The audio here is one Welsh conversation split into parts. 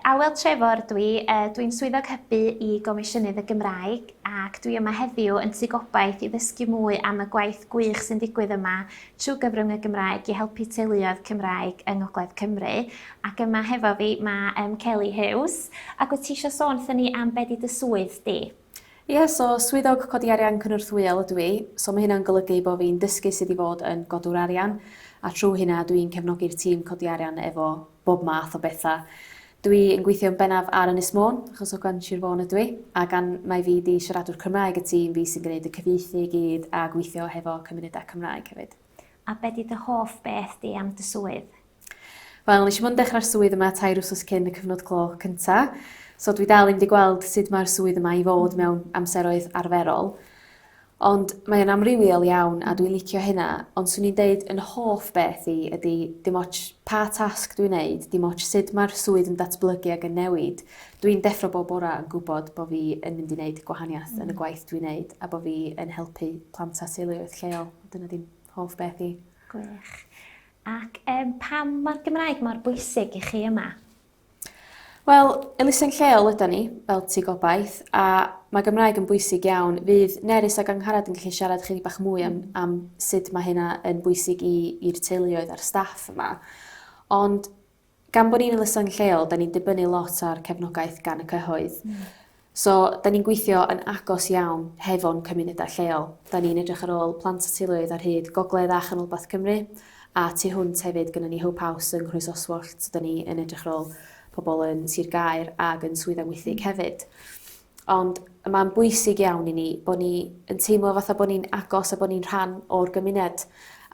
Awel Trefor dwi, dwi'n Swyddog Hybu i Gomisiynydd y Gymraeg ac dwi yma heddiw yn Tŷ Gobaith i ddysgu mwy am y gwaith gwych sy'n digwydd yma trwy gyfrwng y Gymraeg i helpu teuluoedd Cymraeg yng Ngogledd Cymru ac yma hefo fi mae Kelly Hughes ac wyt ti eisiau sôn wrthyn ni am be 'di dy swydd di? Ie, so swyddog codi arian cynorthwyol ydw i, so mae hynna'n golygu bo' fi'n dysgu sut i fod yn godwr arian, a trw hynna dw i'n cefnogi'r tîm codi arian efo bob math o betha. Dw i yn gweithio'n bennaf ar Ynys Môn, achos o Gan Sir Fôn ydw i, a gan mai fi 'di siaradwr Cymraeg y tîm, fi sy'n gneud y cyfieithu i gyd a gweithio hefo cymunedau Cymraeg hefyd. A be' 'di dy hoff beth di am dy swydd? Wel nes i mond dechra'r swydd yma tair wsos cyn y cyfnod clo cynta so dwi dal 'im 'di gweld sud ma'r swydd yma i fod mewn amseroedd arferol. Ond mae o'n amrywiol iawn a dwi'n licio hynna ond swn i'n deud yn hoff beth i ydi dim ots pa tasg dwi'n neud dim ots sud ma'r swydd yn datblygu ag yn newid dwi'n deffro bob bora yn gwbod bo' fi yn mynd i neud gwahaniath yn y gwaith dwi'n neud a bo' fi yn helpu plant a teuluoedd lleol. Dyna 'di'n hoff beth i. Gwych. Ac yym pam mae'r Gymraeg mor bwysig i chi yma? Wel, elusen lleol ydan ni, fel ti gobaith, a mae Gymraeg yn bwysig iawn. Fydd Nerys ac Angharad yn gallu siarad chydig bach mwy am, mm. am sut mae hynna yn bwysig i'r teuluoedd a'r staff yma. Ond gan bod ni'n elusen lleol 'dan ni'n dibynnu lot ar cefnogaeth gan y cyhoedd. Hmm. So 'dan ni'n gweithio yn agos iawn hefo'n cymuneda lleol. 'Dan ni'n edrych ar ôl plant a teuluoedd ar hyd gogledd a chanolbarth Cymru a tu hwnt hefyd gynnon ni Hope House yng Nghrwys Oswallt so 'dan ni yn edrych ar ôl pobol yn Sir Gaer ag yn Swydd Amwythig hmm. hefyd. Ond mae'n bwysig iawn i ni bod ni yn teimlo fatha bod ni'n agos a bod ni'n rhan o'r gymuned.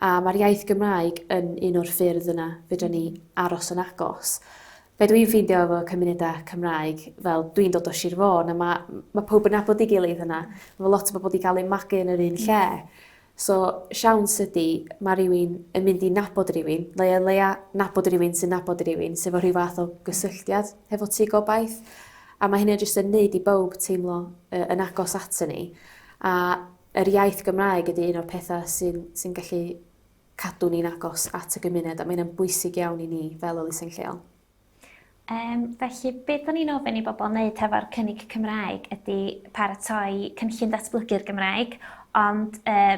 A mae'r iaith Gymraeg yn un o'r ffyrdd yna fedrwn ni aros yn agos. Be dwi'n ffeindio efo cymunedau Cymraeg, fel dwi'n dod o Sir Fôn a mae, mae pawb yn nabod ei gilydd yna. Mae lot o bobl wedi cael eu magu yn yr un lle. So, siawns ydi, mae rhywun yn mynd i nabod rhywun, neu o leia nabod rhywun sy'n nabod rhywun, sef o rhyw fath o gysylltiad hefo ti gobaith. A mae hynny jyst yn neud i bawb teimlo uh, yn agos at ni. A yr iaith Gymraeg ydy un o'r pethau sy'n sy gallu cadw ni'n agos at y gymuned, a mae'n bwysig iawn i ni fel elusen lleol. Um, felly, beth o'n i'n ofyn i bobl wneud hefo'r cynnig Cymraeg ydy paratoi cynllun datblygu'r Gymraeg, ond uh,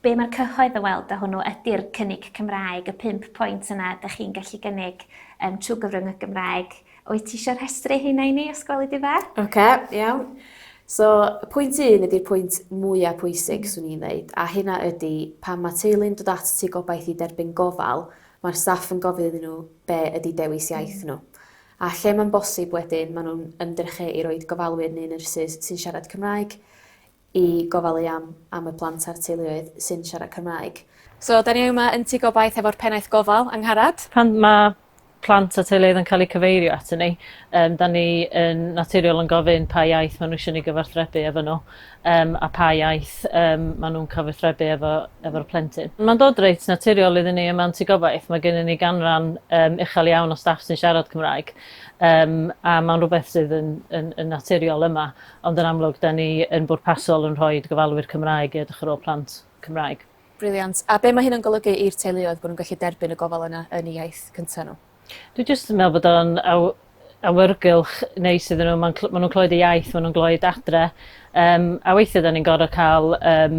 be mae'r cyhoedd yn weld o hwnnw ydy'r cynnig Cymraeg, y pimp pwynt yna da chi'n gallu gynnig um, trwy gyfrwng y Gymraeg. Wyt ti eisiau rhestru hynna i ni, os gwelid di dda? Oce, okay, iawn. So, pwynt un ydy'r pwynt mwyaf pwysig, swn i'n dweud, a hynna ydy pan mae teulu'n dod at ti gobaith i derbyn gofal, Mae'r staff yn gofyn iddyn nhw be ydy dewis iaith nhw. A lle mae'n bosib wedyn maen nhw'n ymdrechu i roid gofalwyr neu nyrsys sy'n siarad Cymraeg i gofalu am am y plant a'r teuluoedd sy'n siarad Cymraeg. So, 'da ni yma yn Tŷ Gobaith hefo'r Pennaeth Gofal, Angharad. Pan mae plant a teuluoedd yn cael eu cyfeirio atyn ni, 'da ni yn naturiol yn gofyn pa iaith maen nhw eisiau ni gyfathrebu efo nhw. yym a pha iaith yym ma' nhw'n cyfathrebu efo efo'r plentyn. Ma'n dod reit naturiol iddyn ni yma yn Tŷ Gobaith, mae gennyn ni ganran yym uchel iawn o staff sy'n siarad Cymraeg yym a ma'n rhywbeth sydd yn yn yn naturiol yma, ond yn amlwg 'dan ni yn bwrpasol yn rhoid gofalwyr Cymraeg i edrych ar ôl plant Cymraeg. Brilliant. A be' ma' hyn yn golygu i'r teuluoedd, bo' nhw'n gallu derbyn y gofal yna yn eu iaith cynta' nhw? Dwi jyst yn meddwl bod o'n aw- awyrgylch neis iddyn nhw, ma'n cl- ma' nhw'n clywed y iaith, ma' nhw'n glywed adre, yym a weithie 'dan ni'n gor'o' ca'l yym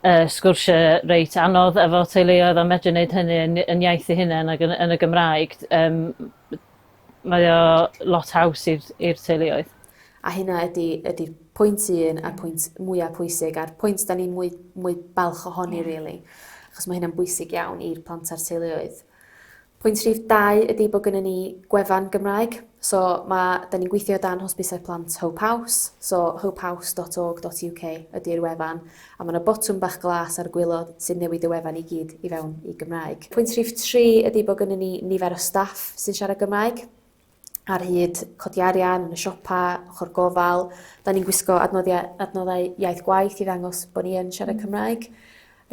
y sgwrsie reit anodd efo teuluoedd a medru neud hynny yn yn iaith eu hunen ag yn yn y Gymraeg d- yym m- mae o lot haws i'r i'r teuluoedd. A hynna ydi ydi pwynt un a'r pwynt mwya pwysig a'r pwynt 'dan ni mwy mwy balch ohoni rili. Achos ma' hynna'n bwysig iawn i'r plant a'r teuluoedd. Pwynt rhif dau ydi bod gynnon ni gwefan Gymraeg. So ma' 'dan ni'n gweithio o dan Hosbisau Plant Hope House, so hopehouse.org.uk ydi'r wefan, a ma' 'na botwm bach glas ar y gwilod sy'n newid y wefan i gyd i fewn i Gymraeg. Pwynt rhif tri ydi bod gynnon ni nifer o staff sy'n siarad Gymraeg. ar hyd codi arian yn y siopa, ochor gofal 'dan ni'n gwisgo adnoddia- adnoddau iaith gwaith i ddangos bo' ni yn siarad Cymraeg.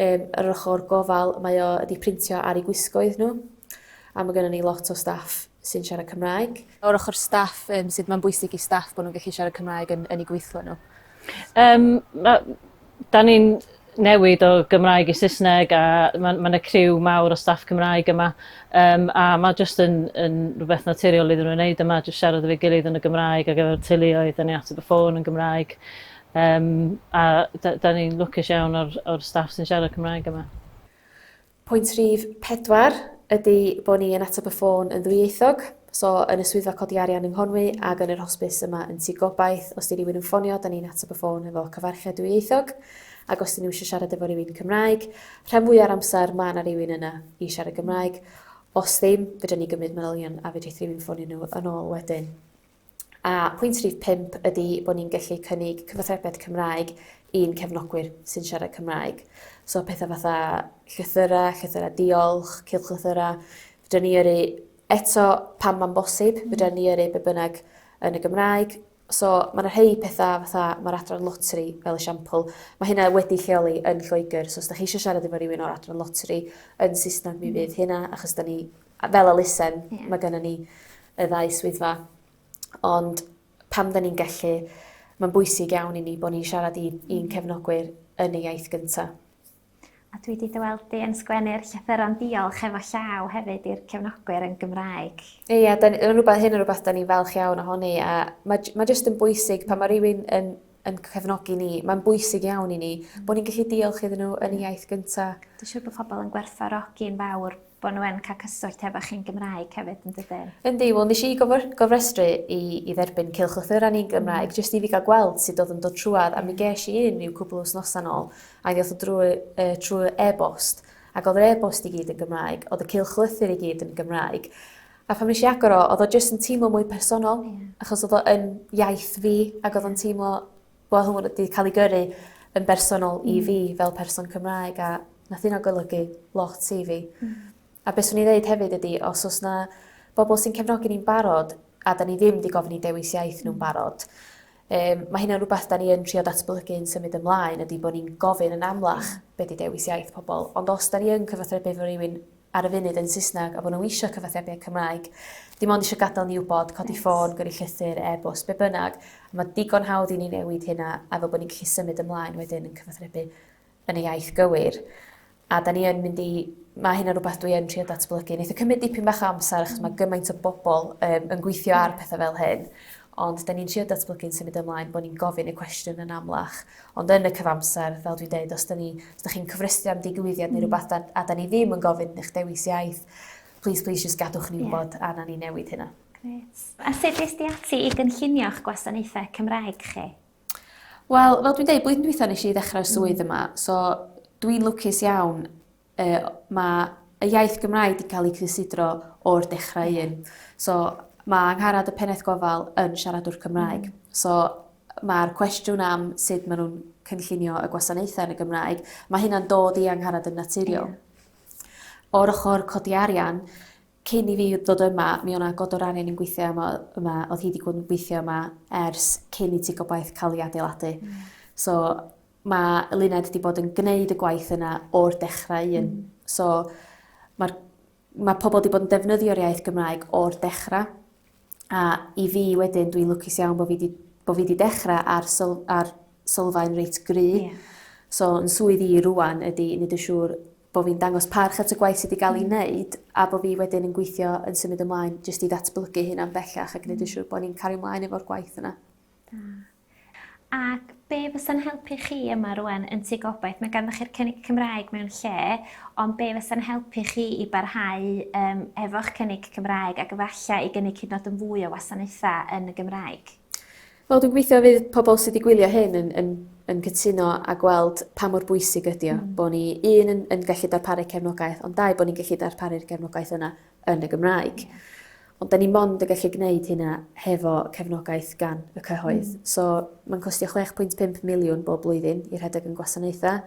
Yym yr ochor gofal mae o 'di printio ar 'u gwisgoedd n'w a ma' gynnon ni lot o staff sy'n siarad Cymraeg. O'r ochor staff yym sud ma'n bwysig i staff bo' nw'n gellu siarad Cymraeg yn yn 'u gweithle n'w? Yym ma' da ni'n newid o Gymraeg i Saesneg a mae ma yna criw mawr o staff Cymraeg yma um, a mae jyst yn, yn rhywbeth naturiol iddyn nhw'n wneud yma, jyst siarad efo'i gilydd yn y Gymraeg ac efo'r teuluoedd, da ni at y ffôn yn Gymraeg um, a da, da ni'n lwcus iawn o'r, or staff sy'n siarad Cymraeg yma. Pwynt rhif pedwar ydy bod ni yn ateb y ffôn yn ddwyieithog, so yn y swyddfa codi arian yng Nghonwy ac yn yr hosbis yma yn Tŷ Gobaith, os 'di rywun yn ffonio, 'da ni'n ateb y ffôn hefo cyfarchiad dwyieithog, ac os 'dyn nhw eisiau siarad efo rywun Cymraeg, rhan fwya o'r amser ma' 'na rywun yna i siarad Gymraeg. Os ddim, fedra ni gymryd manylion a fedrith rywun ffonio nhw yn ôl wedyn. A pwynt rhif pump ydy bod ni'n gallu cynnig cyfathrebiaeth Cymraeg i'n cefnogwyr sy'n siarad Cymraeg. So pethau fatha llythyrau, llythyrau diolch, cylchlythyrau, fydra ni yrru eto pan mae'n bosib, mm. fydra ni yrru be bynnag yn y Gymraeg. So mae yna rhai pethau fatha mae'r adran lotri fel esiampl. Mae hynna wedi lleoli yn Lloegr. So os da chi eisiau siarad efo rhywun o'r adran lotri yn Saesneg mi mm. fydd hynna achos da ni A fel elusen, mae gennym ni y ddau swyddfa. Ond pam da ni'n gallu, mae'n bwysig iawn i ni bod ni'n siarad i, i'n mm. cefnogwyr yn ei iaith gyntaf. A dwi wedi dyweld di yn sgwennu'r llythyron diolch efo llaw hefyd i'r cefnogwyr yn Gymraeg. Ie, yeah, rhywbeth hyn yn rhywbeth da ni'n falch iawn ohoni a mae, mae jyst yn bwysig pan mae rhywun yn yn cefnogi ni. Mae'n bwysig iawn i ni mm. bod ni'n gallu diolch iddyn nhw yn y iaith gynta. Dwi'n siŵr bod pobl yn gwerthfarogi'n fawr bod nhw yn cael cyswllt efo chi'n Gymraeg hefyd yn dydyn. Yndi, wel nes i gofrestru i, i dderbyn cilchlythyra ni'n Gymraeg, mm. jyst i fi gael gweld sut oedd yn dod trwad, a mi ges i un i'w cwbl wythnos yn ôl, a mi oedd o drwy, uh, trwy e-bost, ac oedd yr e-bost i gyd yn Gymraeg, oedd y cilchlythyr i gyd yn Gymraeg. A phan nes i agor o, oedd o jyst yn teimlo mwy personol, yeah. achos oedd o yn iaith fi, ac oedd o'n teimlo bod hwn wedi cael ei gyrru yn bersonol mm. i fi fel person Cymraeg, a nath yna golygu lot i fi. Mm. A beth swn i ddeud hefyd ydy, os oes na bobl sy'n cefnogi ni'n barod, a da ni ddim wedi gofyn i dewis iaith nhw'n mm. barod, um, mae hynny'n rhywbeth da ni yn trio datblygu yn symud ymlaen, ydy bod ni'n gofyn yn amlach mm. beth di dewis iaith pobl. Ond os da ni yn cyfathrebu efo rhywun ar y funud yn Saesneg a bod nhw eisiau cyfathrebu â Cymraeg, dim ond eisiau gadael ni wybod, codi ffôn, gyrru llythyr, e-bost, be bynnag, a mae digon hawdd i ni newid hynna a fel bod ni'n gallu symud ymlaen wedyn yn cyfathrebu yn y iaith gywir. A da ni yn mynd i... Mae hynna'n rhywbeth dwi yn trio datblygu. Neith o cymryd dipyn bach o amser achos mae gymaint o bobl um, yn gweithio ar pethau fel hyn. Ond da ni'n trio datblygu'n symud ymlaen bod ni'n gofyn y cwestiwn yn amlach Ond yn y cyfamser, fel dwi'n deud, os da ni, os da chi'n cyfrestru am digwyddiad neu rhywbeth a, a da ni ddim yn gofyn yn eich dewis iaith, please, please, just gadwch ni wybod yeah. a na ni newid hynna. Gret. A sut ys di ati i gynllunio'ch gwasanaethau Cymraeg chi? Wel, fel dwi'n deud, blwyddyn dwi'n nes i ddechrau'r swydd mm. yma, so dwi'n lwcus iawn y mae y iaith Gymraeg wedi cael ei cysidro o'r dechrau yeah. un. So mae Angharad y Pennaeth Gofal yn siaradwr Cymraeg. Mm. So mae'r cwestiwn am sut maen nhw'n cynllunio y gwasanaethau yn y Gymraeg, mae hynna'n dod i angharad yn naturiol. Yeah. O'r ochr codi arian, cyn i fi ddod yma, mi o'na god o'r arian yn gweithio yma, yma oedd hi wedi bod yn gweithio yma ers cyn i ti gobaith cael ei adeiladu. Mm. So, Mae Luned 'di bod yn gneud y gwaith yna o'r dechrau un. Hmm. So mae'r mae pobl 'di bod yn defnyddio'r iaith Gymraeg o'r dechrau. A i fi wedyn, dwi'n lwcus iawn bod fi 'di bo' fi 'di dechra ar syl- ar sylfaen reit gry. Ie. So yn swydd i rŵan ydi neud yn siŵr bo' fi'n dangos parch at y gwaith sy 'di ga'l 'i hmm. neud a bo' fi wedyn yn gweithio yn symud ymlaen jyst i ddatblygu hynna'n bellach ac neud yn hmm. siŵr bo' ni'n cario mlaen efo'r gwaith yna. Da. Ac be fysa'n helpu chi yma rwan yn Tŷ Gobaith? Mae ganddoch chi'r cynnig Cymraeg mewn lle, ond be fysa'n helpu chi i barhau um, efo'ch cynnig Cymraeg ac efallai i gynnig hyd yn yn fwy o wasanaethau yn y Gymraeg? Wel, dwi'n gweithio fydd pobl sydd wedi gwylio hyn yn, yn, yn cytuno a gweld pa mor bwysig ydy o, mm. bod ni un yn, yn gallu darparu cefnogaeth, ond dau bod ni'n gallu darparu'r gefnogaeth yna yn y Gymraeg. Ond da ni mond yn gallu gwneud hynna hefo cefnogaeth gan y cyhoedd. Mm. So mae'n costio 6.5 miliwn bob blwyddyn i rhedeg yn gwasanaethau,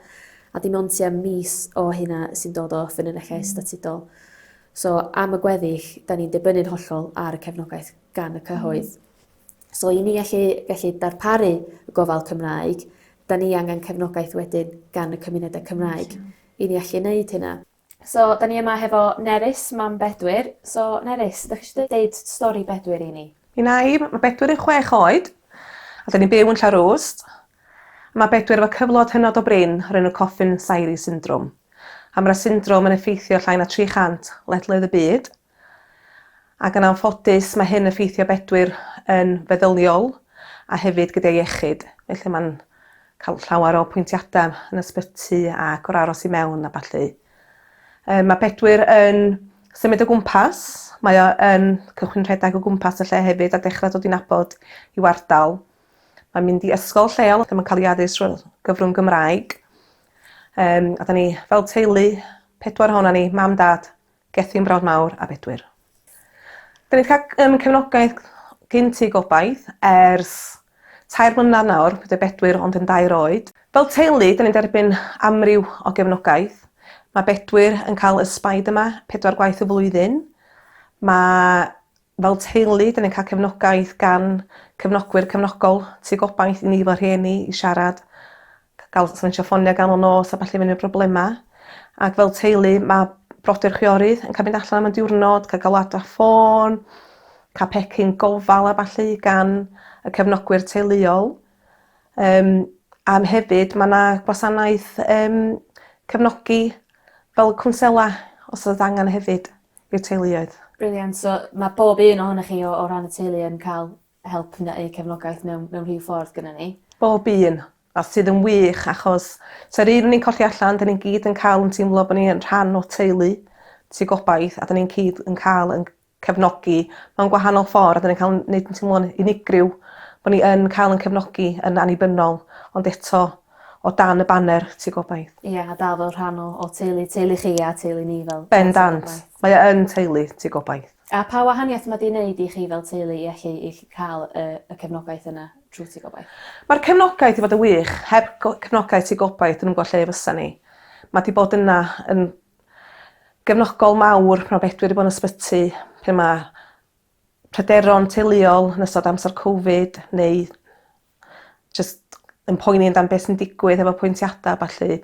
a dim ond tua mis o hynna sy'n dod o ffynonellau mm. statudol. So am y gweddill, da ni'n dibynnu'n hollol ar y cefnogaeth gan y cyhoedd. Mm. So i ni allu, gallu darparu y gofal Cymraeg, da ni angen cefnogaeth wedyn gan y cymunedau Cymraeg. Mm. I ni allu wneud hynna. So, da ni yma hefo Nerys, mam Bedwyr. So, Nerys, da chi eisiau deud stori Bedwyr i ni? Mi na i, mae Bedwyr yn chwech oed, a da ni'n byw yn Llarwst. Mae Bedwyr efo cyflod hynod o brin o'r enw Coffin Syri Syndrom. A mae'r syndrom yn effeithio llai na 300 ledled y byd, Ac yn anffodus mae hyn yn ffeithio Bedwyr yn feddyliol a hefyd gyda'i iechyd. Felly mae'n cael llawer o pwyntiadau yn ysbyty ac o'r aros i mewn a ballu. Um, mae Bedwyr yn symud o gwmpas, mae o yn cychwyn rhedeg o gwmpas y lle hefyd a dechrau dod i'n abod i wardal. Mae'n mynd i ysgol lleol lle mae'n cael ei addysg drwy gyfrwng Gymraeg. Um, a da ni fel teulu, pedwar hona ni, mam, dad, Gethin Brown Mawr a Bedwyr. Da ni wedi cael um, cefnogaeth gyn ti gobaith ers tair mlynedd nawr, bydd y Bedwyr ond yn dair oed. Fel teulu, da ni'n derbyn amryw o gefnogaeth. Mae Bedwyr yn cael y Spider-Man pedwar gwaith y flwyddyn. Mae Fel teulu 'dyn ni'n ca'l cefnogaeth gan cefnogwyr cefnogol tu gobaith i ni fel rhieni i siarad ca- ga'l sgwnsio ffonia ganol nos a ballu fyny problema ac fel teulu ma' brodyr chwiorydd yn ca'l mynd allan am y diwrnod ca' galwad ar ffôn ca' pecyn gofal a ballu gan y cefnogwyr teuluol yym a m- hefyd ma' 'na gwasanaeth yym cefnogi fel cwnsela os odd angan hefyd. i'r teuluoedd. Brilliant so ma' bob un ohonoch chi o o ran y teulu yn ca'l help neu cefnogaeth mewn mewn rhyw ffordd gynnon ni. Bob un. A sydd yn wych achos sa'r un o'n i'n colli allan 'dyn ni'n gyd yn ca'l yn teimlo bo' ni yn rhan o teulu sy gobaith a 'dyn ni'n cyd yn ca'l yn cefnogi mewn gwahanol ffor a 'dyn ni'n ca'l 'n neud yn teimlo'n unigryw bo' ni yn ca'l 'yn cefnogi yn annibynnol ond eto o dan y baner Tŷ Gobaith. Ie a dal fel rhan o o teulu teulu chi a teulu ni fel... Bendant. Mae o yn teulu Tŷ Gobaith. A pa wahaniaeth ma' 'di neud i chi fel teulu i allu i allu ca'l y y cefnogaeth yna trw Tŷ Gobaith? Ma'r cefnogaeth 'di fod yn wych. Heb go- cefnogaeth Tŷ Gobaith dwi'm yn gwbo lle fysan ni. Ma' 'di bod yna yn gefnogol mawr pan ma' Bedwyr 'di bod yn ysbyty pe ma' pryderon teuluol yn ystod amser covid neu jyst yn poeni amdan be' sy'n digwydd hefo apwyntiada a ballu.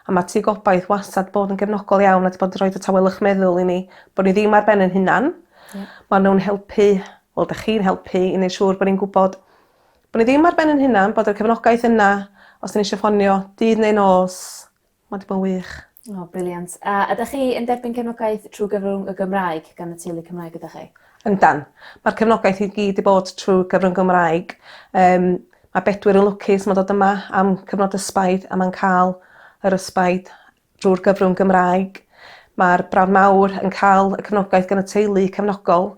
A ma' Tŷ Gobaith wastad bod yn gefnogol iawn a 'di bod yn rhoid y tawelwch meddwl i ni bo' ni ddim ar ben ein hunan. Ie. Ma' nw'n helpu wel 'dach chi'n helpu i neu' siŵr bo' ni'n gwbod bo' ni ddim ar ben 'yn hunan bod y cefnogaeth yna os 'yn ni isio ffonio dydd neu nos. Mae 'di bod yn wych. O, briliant. A ydych chi yn derbyn cefnogaeth trwy gyfrwng y Gymraeg gan y teulu Cymraeg gyda chi? Yndan. Mae'r cefnogaeth i gyd 'di bod trwy gyfrwng Gymraeg. Yym mae Bedwyr yn lwcus ma'n dod yma am cyfnod ysbaid a ma'n ca'l yr ysbaid drw'r gyfrwng Gymraeg. Ma'r Brawd Mawr yn ca'l y cefnogaeth gan y teulu cefnogol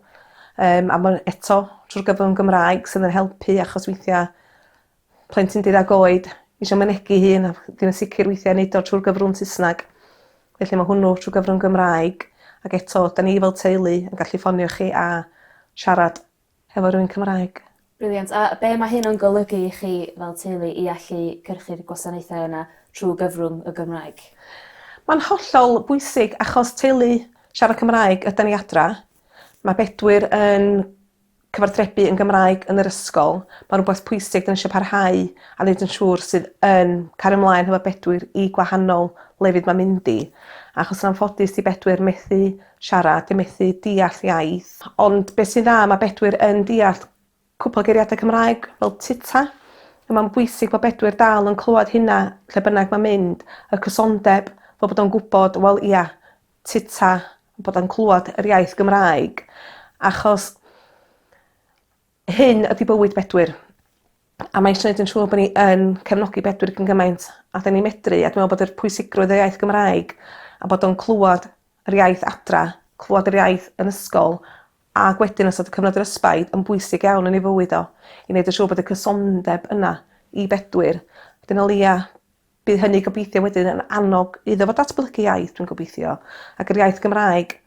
yym a ma' eto trw'r gyfrwng Gymraeg sydd yn helpu achos weithia' plentyn di-ddag oed isio mynegi hun a ddim yn sicr weithia' neud o trw'r gyfrwng Saesnag. Felly ma' hwnnw trw gyfrwng Gymraeg ag eto 'dan ni fel teulu yn gallu ffonio chi a siarad hefo rywun Cymraeg. Brilliant. A be' ma' hyn yn golygu i chi fel teulu i allu cyrchu'r gwasanaethau yna trw gyfrwng y Gymraeg? Ma'n hollol bwysig achos teulu siarad Cymraeg ydan ni adra. Ma' Bedwyr yn cyfathrebu yn Gymraeg yn yr ysgol ma' rwbath pwysig 'dan ni isio parhau a neud yn siŵr sydd yn cario mlaen hefo Bedwyr i gwahanol lefydd ma'n mynd i achos yn anffodus 'di Bedwyr methu siarad 'di o methu deall iaith ond be' sy'n dda ma' Bedwyr yn deall cwpwl o geiriada Cymraeg fel tyta. A ma'n bwysig bo' Bedwyr dal yn clwad hynna lle bynnag ma'n mynd y cysondeb fel bod o'n gwbod wel ia Tita a bod o'n clwad yr iaith Gymraeg achos hyn ydi bywyd Bedwyr a mae isio neud yn siŵr bo' ni yn cefnogi Bedwyr gyn gymaint a 'dyn ni medru a dwi me'wl bod yr pwysigrwydd y iaith Gymraeg a bod o'n clwad yr iaith adra clwad yr iaith yn ysgol ag wedyn ystod y cyfnod respite yn bwysig iawn yn ei fywyd o i neud yn siŵr bod y cysondeb yna i Bedwyr dyna o leia Bydd hynny gobeithio wedyn yn annog iddo fo datblygu iaith, dwi'n gobeithio, ac yr iaith Gymraeg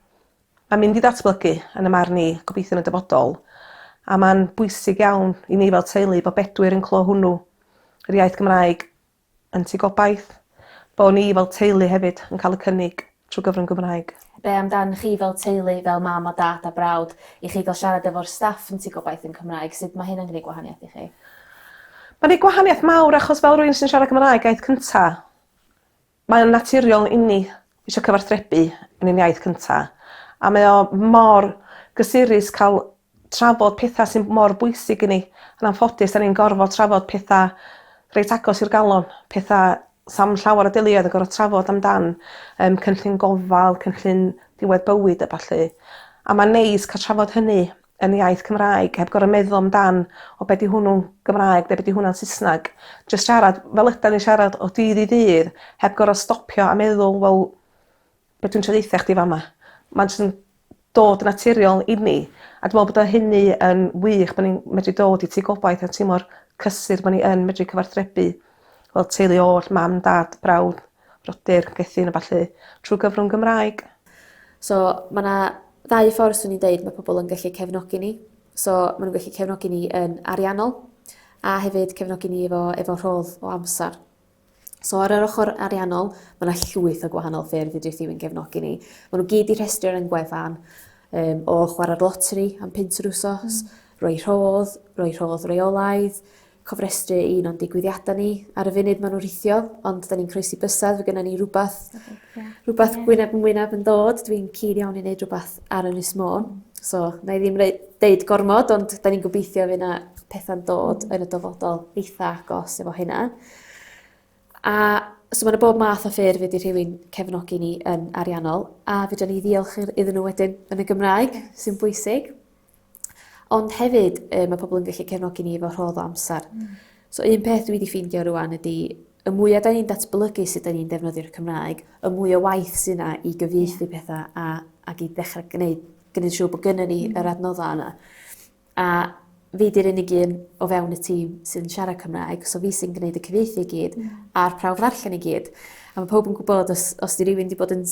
mae'n mynd i ddatblygu, yn y marn i, gobeithio yn y dyfodol. A mae'n bwysig iawn i ni fel teulu bod Bedwyr yn clo hwnnw, yr iaith Gymraeg yn tŷ gobaith, bo' ni fel teulu hefyd yn cael y cynnig trwy gyfrwng Gymraeg. Be am dan chi fel teulu, fel mam a dad a brawd, i chi gael siarad efo'r staff yn Tŷ Gobaith yn Cymraeg? Sut mae hyn yn gwneud gwahaniaeth i chi? Mae'n gwneud gwahaniaeth mawr achos fel rwy'n sy'n siarad Cymraeg iaith cynta, mae o'n naturiol inni isio cyfarthrebu yn ein iaith cynta a mae o mor gysurus cael trafod petha sy mor bwysig i ni. Yn anffodus 'dan ni'n gorfod trafod petha reit agos i'r galon. Petha sa'm llawer o deuluoedd yn gor'o' trafod amdan yym cynllun gofal cynllun diwedd bywyd a ballu. A ma'n neis ca'l trafod hynny yn iaith Cymraeg heb gor'o' meddwl amdan o be' 'di hwnnw'n Gymraeg ne' be' 'di hwnna'n Sysnag. Jyst siarad fel ydan ni siarad o dydd i ddydd heb gor'o' stopio a meddwl wel Be' dwi'n trio deutha chdi fama. Ma'n js yn dod yn naturiol i ni a dwi me'wl bod o hynny yn wych bo' ni'n medru dod i tŷ gobaith a timlo'r cysur bo' ni yn medru cyfathrebu fel teulu oll mam dad brawd brodyr cwethid a ballu trw gyfrwng Gymraeg. So ma' 'na ddau ffor swn i'n deud ma' pobol yn gallu cefnogi ni. So ma' nw'n gallu cefnogi ni yn ariannol a hefyd cefnogi ni efo efo rhodd o amsar. So ar yr ochr ariannol, mae yna llwyth o gwahanol ffyrdd i Drithiwyn gefnogi ni. Mae nhw gyd i rhestru ar ein gwefan um, o chwarae'r lotri am pint yr wsos, mm. roi rhodd, roi rhodd reolaidd, cofrestru un o'n digwyddiadau ni. Ar y funud maen nhw'n rhithio, ond da ni'n croesi bysedd, fe gyda ni rhywbeth okay. Yeah. Rhywbeth yeah. wyneb yn wyneb yn dod, dwi'n cyd iawn i wneud rhywbeth ar Ynys Môn. So, na i ddim deud gormod, ond da ni'n gobeithio fy na pethau'n dod yn y dyfodol eitha agos efo hynna. A so mae yna bob math o ffurf wedi rhywun cefnogi ni yn ariannol, a fydden ni ddiolch iddyn nhw wedyn yn y Gymraeg, sy'n bwysig. Ond hefyd, yy, mae pobl yn gallu cefnogi ni efo rhodd o amser. Mm. So un peth dwi wedi ffeindio rwan ydy, y mwyaf da ni'n datblygu sut da ni'n defnyddio'r Cymraeg, y mwy o waith sy'n na i gyfieithu pethau a, ac i ddechrau gwneud, gwneud siw bod gyda ni mm. yr adnoddau yna. A fi di'r unig un o fewn y tîm sy'n siarad Cymraeg, so fi sy'n gwneud y cyfieithu i gyd mm. a'r prawf ddarllen i gyd. A mae pawb yn gwybod os, os di rywun wedi bod yn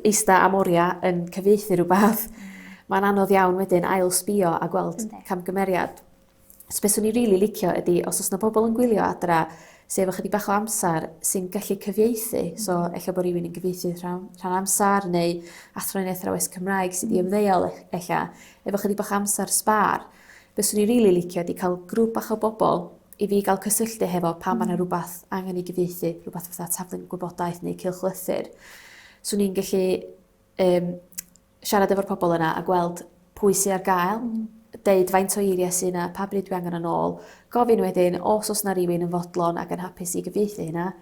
eista am oriau yn cyfieithu rhywbeth, mae'n anodd iawn wedyn ail sbio a gweld Ynddi. camgymeriad. So beth swn i'n rili licio ydy, os oes yna pobl yn gwylio adra sydd efo chydig bach o amser sy'n gallu cyfieithu, so mm. efallai bod rhywun yn gyfieithu rhan, rhan amser neu athronydd athrawes Cymraeg sydd wedi mm. ymddeol e- efallai, efo chydig bach o amser sbar, beth swn i'n rili licio ydy cael grŵp bach o bobl I fi gael cysylltu hefo pan mae 'na rhywbeth angen ei gyfieithu, rhywbeth fatha taflen gwybodaeth neu cylchlythyr, 'swn i'n gallu yym siarad efo'r pobol yna a gweld pwy sy ar gael, deud faint o eiriau sy 'na, pa bryd dwi angen o nôl, gofyn wedyn os o's 'na rywun yn fodlon ac yn hapus i gyfieithu hynna,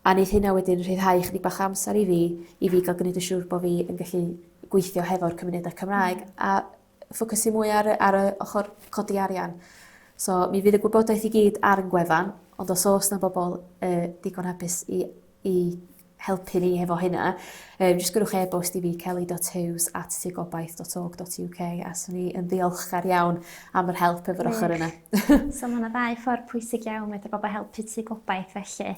a neith hynna wedyn rhyddhau chydig bach o amser i fi i fi ga'l gneud yn siŵr bo' fi yn gallu gweithio hefo'r cymunedau Cymraeg a ffocysu mwy ar y ar y ochor codi arian. So mi fydd y gwybodaeth i gyd ar 'yn gwefan ond os o's 'na bobol yy digon hapus i i helpu ni hefo hynna yy jys gwnewch e-bost i fi Kelly dot Huws at tŷ gobaith dot org dot you kay a swn i yn ddiolchgar iawn am yr help efo'r ochor yna. So ma' 'na ddau ffor pwysig iawn medru bobol helpu tŷ gobaith felly.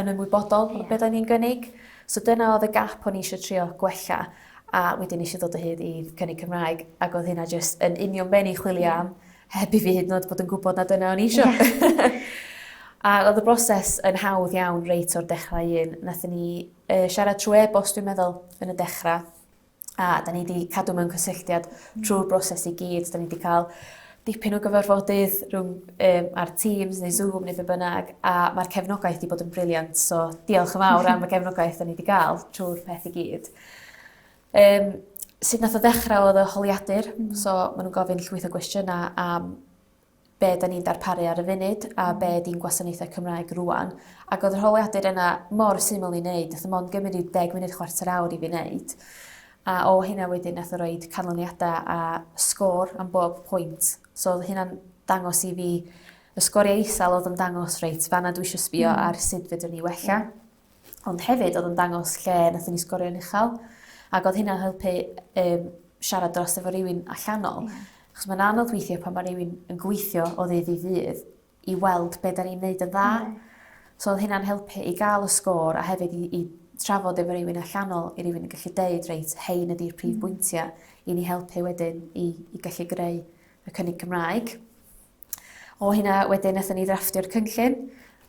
yn ymwybodol yeah. o beth o'n i'n gynnig. So dyna oedd y gap o'n i eisiau trio gwella a wedyn eisiau dod o hyd i cynnig Cymraeg ac oedd hynna jyst yn union ben i chwilio yeah. am heb i fi hyd yn oed bod yn gwybod na dyna o'n i eisiau. Yeah. a oedd y broses yn hawdd iawn reit o'r dechrau un. Nathyn ni uh, siarad trwy e-bost dwi'n meddwl yn y dechrau A 'da ni 'di cadw mewn cysylltiad trw'r broses i gyd 'dan ni 'di ca'l dipyn o gyfarfodydd rhwng yym ar Teams neu Zoom ne' be' bynnag a ma'r cefnogaeth 'di bod yn brilliant so diolch yn fawr am y gefnogaeth 'dan ni 'di ga'l trw'r peth i gyd. Yym sud nath o ddechra odd y holiadur... Hmm. ...so ma' nw'n gofyn llwyth o gwestiyna' am be da ni'n darparu ar y funud a be ydi'n gwasanaethau Cymraeg rwan. Ac oedd yr holiadur yna mor syml i wneud, wnaeth o mond gymryd rhyw deg munud, chwarter awr i fi wneud. A o hynna wedyn wnaeth o roi canlyniadau a sgôr am bob pwynt. So oedd hynna'n dangos i fi y sgoriau isel oedd yn dangos reit, fanna dwi eisiau sbio mm. ar sut fedrwn ni wella. Yeah. ond hefyd oedd yn dangos lle nathon ni sgorio'n uchel ac oedd hynna'n helpu yym siarad dros efo rywun allanol. Ie. Achos ma'n anodd weithie pan ma' rywun yn gweithio o ddydd i ddydd i weld be' 'dan ni'n neud yn dda. Yndi. So odd hynna'n helpu i ga'l y sgôr a hefyd i i trafod efo rywun allanol i rywun yn gallu deud reit 'hein ydi'r prif bwyntia' i ni helpu wedyn i i gallu greu y cynnig Cymraeg. O hynna wedyn nathon ni ddrafftio'r cynllun,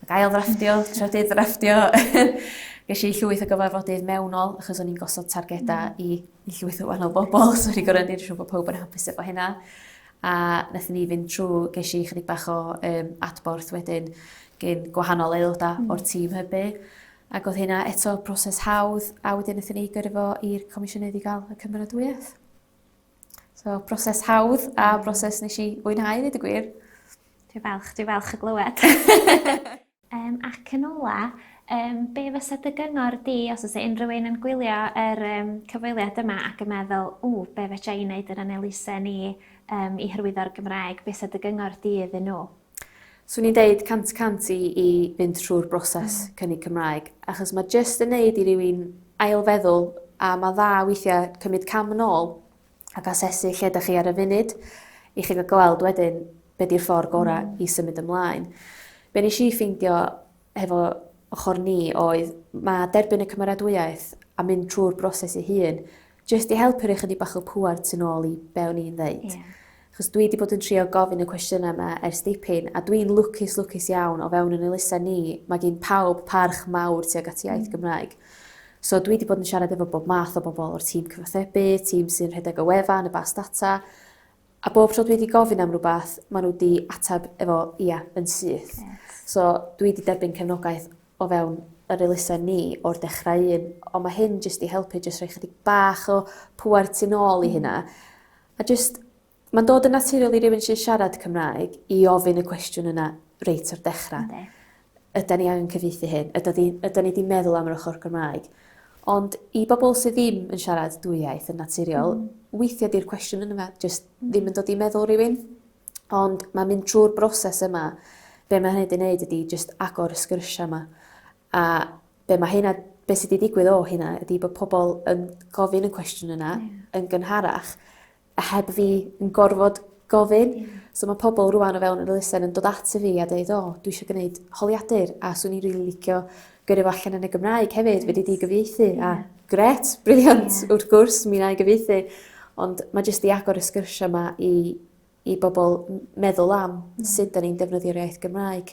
ac ail ddrafftio, trydydd ddrafftio. Ges i llwyth o gyfarfodydd mewnol, achos o'n i'n gosod targedau mm. i, i llwyth o wahanol bobl, so o'n i'n gorau neud siŵr bod pawb yn hapus efo hynna. A nathon ni fynd trwy, ges i chydig bach o um, adborth wedyn gyn gwahanol aelodau mm. o'r tîm hybu. Ac oedd hynna eto proses hawdd, a wedyn nathon ni gyrru fo i'r comisiynydd i gael y cymeradwyaeth. So, broses hawdd a mm. broses nes i fwynhau ddweud y gwir. Dwi falch, dwi falch y glywed. um, ac yn ola, um, be fysa dy gyngor di os oes unrhyw un yn gwylio yr um, cyfweliad yma ac yn meddwl, ww, be fe i wneud yn anelisen ni um, i hyrwyddo'r Gymraeg, be fysa dy gyngor di iddyn nhw? Swn i'n deud cant y cant i i fynd trw'r broses hmm. cynnig Cymraeg achos mae jyst yn neud i rywun ailfeddwl a mae dda weithiau cymryd cam yn ôl ac asesu lle ydych chi ar y funud i chi gael gweld wedyn be di'r ffordd gorau mm. i symud ymlaen. Be nes i ffeindio hefo ochr ni oedd ma' derbyn y cymeradwyaeth a mynd trw'r broses ei hun jyst i helpu roi chydig bach o pŵer tu nôl i be' o'n i'n ddeud. Ie. 'Chos dwi 'di bod yn trio gofyn y cwestiyna 'ma ers dipyn a dwi'n lwcus lwcus iawn o fewn 'yn elusen ni ma' gin pawb parch mawr tuag at iaith Gymraeg. So dwi 'di bod yn siarad efo bob math o bobol o'r tîm cyfathrebu, tîm sy'n rhedeg y wefan, y bas data A bob tro dwi 'di gofyn am rwbath ma' n'w 'di atab efo ia yn syth. Reit. So dwi 'di derbyn cefnogaeth o fewn yr elusen ni o'r dechra un on' ma' hyn jyst 'di helpu jyst rhoi chydig bach o pŵer tu nôl i hynna. A jyst ma'n dod yn naturiol i rywun sy siarad Cymraeg i ofyn y cwestiwn yna reit o'r dechra. Yndi. ydan ni angen cyfieithu hyn, ydan ni, ydan ni wedi meddwl am yr ochr Gymraeg. Ond i bobl sydd ddim yn siarad dwy iaith yn naturiol, mm. weithiau di'r cwestiwn yn yma jyst mm. ddim yn dod i meddwl rhywun. Ond mae mynd trwy'r broses yma, be mae hynny wedi gwneud ydy jyst agor y sgyrsiau yma. A be mae hynna, be sydd wedi digwydd o hynna ydy bod pobl yn gofyn y cwestiwn yna yeah. yn gynharach, a heb fi yn gorfod gofyn. Yeah. So mae pobl rwan o fewn yr elusen yn dod at y fi a dweud, o, oh, dwi eisiau gwneud holiadur a swn i'n rili really licio gyrru fo allan yn y Gymraeg hefyd, yes. wedi di gyfieithu. Yeah. A gret, briliant, yeah. wrth gwrs, mi na i gyfieithu. Ond mae jyst i agor y sgyrsiau yma i, i bobl meddwl am mm. sut da ni'n defnyddio'r iaith Gymraeg.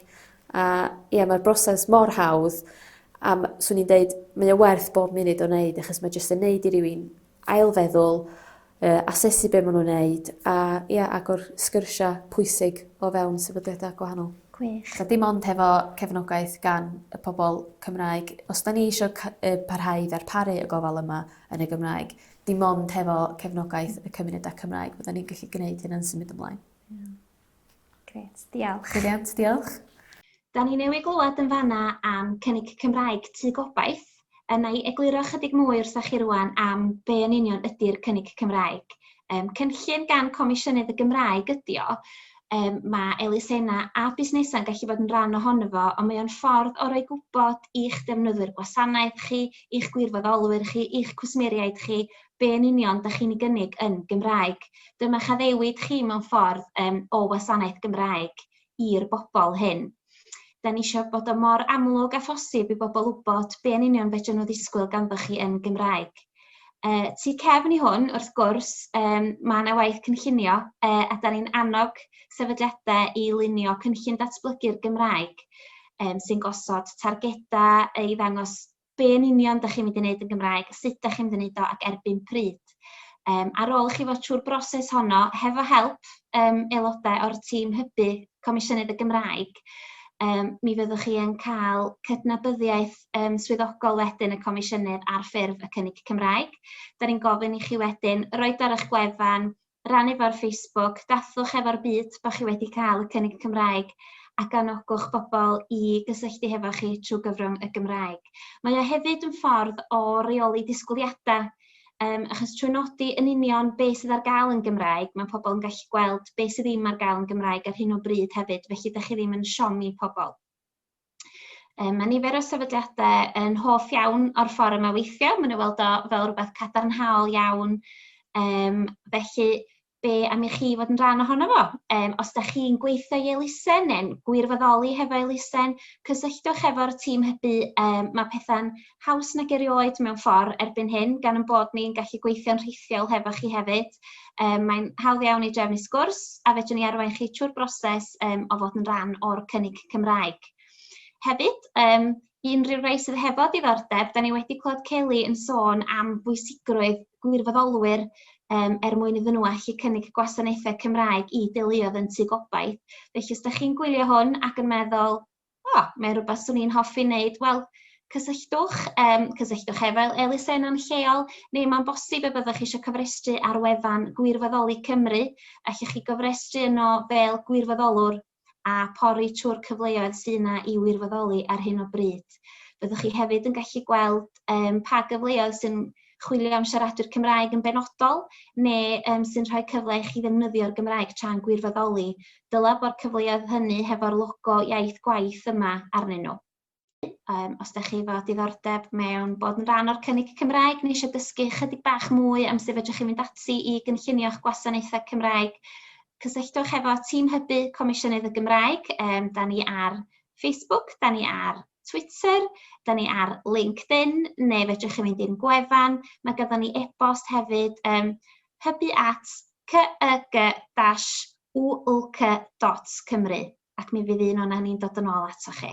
A ie, yeah, mae'r broses mor hawdd a swn i'n deud, mae o werth bob munud o'n neud, achos mae jyst yn neud i rywun ailfeddwl, yy asesu be' ma' nw'n neud a ia agor sgyrsia pwysig o fewn sefydliada gwahanol. Gwych. A dim ond hefo cefnogaeth gan y pobol Cymraeg. Os 'dan ni isio cy- yy parhau i ddarparu y gofal yma yn y Gymraeg dim ond hefo cefnogaeth y cymuneda Cymraeg fyddan ni'n gallu gneud hyn yn symud ymlaen. Ia. Grêt, diolch. Brilliant, diolch. Da ni newydd glywed yn fanna am cynnig Cymraeg Tŷ Gobaith, a na i egluro ychydig mwy wrthach chi rwan am be yn union ydy'r cynnig Cymraeg. Um, cynllun gan Comisiynydd y Gymraeg ydy o, um, mae elusenna a busnesau'n gallu bod yn rhan ohono fo, ond mae o'n ffordd o roi gwybod i'ch defnyddwyr gwasanaeth chi, i'ch gwirfoddolwyr chi, i'ch cwsmeriaid chi, be yn union dych chi'n ei gynnig yn Gymraeg. Dyma chaddewid chi mewn ffordd um, o wasanaeth Gymraeg i'r bobl hyn. Da ni eisiau bod o mor amlwg a phosib i bobl wybod be yn union fedrwn nhw ddisgwyl ganddoch chi yn Gymraeg. Uh, tu cefn i hwn, wrth gwrs, um, mae yna waith cynllunio uh, a da ni'n annog sefydliadau i lunio cynllun datblygu'r Gymraeg um, sy'n gosod targedau i ddangos be yn union da chi'n mynd i wneud yn Gymraeg, sut da chi'n mynd i wneud o ac erbyn pryd. Um, ar ôl i chi fod trwy'r broses honno, hefo help um, aelodau o'r tîm hybu Comisiynydd y Gymraeg, um, mi fyddwch chi yn cael cydnabyddiaeth um, swyddogol wedyn y comisiynydd ar ffurf y cynnig Cymraeg. Da ni'n gofyn i chi wedyn roed ar eich gwefan rannu fo ar Facebook, dathlwch efo'r byd bod chi wedi cael y cynnig Cymraeg ac anogwch bobl i gysylltu hefo chi trwy gyfrwng y Gymraeg. Mae o hefyd yn ffordd o reoli disgwyliadau Um, achos trwy nodi yn union be sydd ar gael yn Gymraeg, mae pobl yn gallu gweld be sydd ddim ar gael yn Gymraeg ar hyn o bryd hefyd, felly da chi ddim yn siomi pobl. Um, mae nifer o sefydliadau yn hoff iawn o'r ffordd yma weithio. Mae'n ei weld o fel rhywbeth cadarnhaol iawn. Um, felly, be am i chi fod yn rhan ohono fo? Um, os da chi'n gweithio i elusen neu'n gwirfoddoli hefo elusen, cysylltwch efo'r tîm hybu. Um, mae pethau'n haws nag erioed mewn ffordd erbyn hyn gan yn bod ni'n gallu gweithio'n rhithiol hefo chi hefyd. Um, mae'n hawdd iawn i drefnu sgwrs a fedrwn ni arwain chi trwy'r broses um, o fod yn rhan o'r cynnig Cymraeg. Hefyd, um, unrhyw rei sydd hefo diddordeb, da ni wedi clod Kelly yn sôn am bwysigrwydd gwirfoddolwyr um, er mwyn iddyn nhw allu cynnig gwasanaethau Cymraeg i deuluodd yn tu gobaith. Felly, os da chi'n gwylio hwn ac yn meddwl, o, mae'n rhywbeth swn i'n hoffi wneud, wel, cysylltwch, um, cysylltwch efo'r elusen yn lleol, neu mae'n bosib y byddwch chi eisiau cofrestru ar wefan Gwirfoddoli Cymru, a chi chi gofrestru yno fel gwirfoddolwr a pori trwy'r cyfleoedd sy'n yna i wirfoddoli ar hyn o bryd. Byddwch chi hefyd yn gallu gweld um, pa gyfleoedd sy'n chwilio am siaradwyr Cymraeg yn benodol neu um, sy'n rhoi cyfle i chi ddefnyddio'r Gymraeg tra'n gwirfoddoli, dylai bod cyfleoedd hynny hefo'r logo iaith gwaith yma arnyn nhw. Um, os da chi fod diddordeb mewn bod yn rhan o'r cynnig Cymraeg neu eisiau dysgu chydig bach mwy am sut fedrwch chi fynd ati i gynllunio'ch gwasanaethau Cymraeg, cysylltwch efo tîm hybu Comisiynydd y Gymraeg. Um, da ni ar Facebook, da ni ar Twitter, da ni ar LinkedIn, neu fedrwch chi fynd i'n gwefan. Mae gyda ni e-bost hefyd, um, hybu at cyg-ulc.cymru, ac mi fydd un o'na ni'n dod yn ôl ato chi.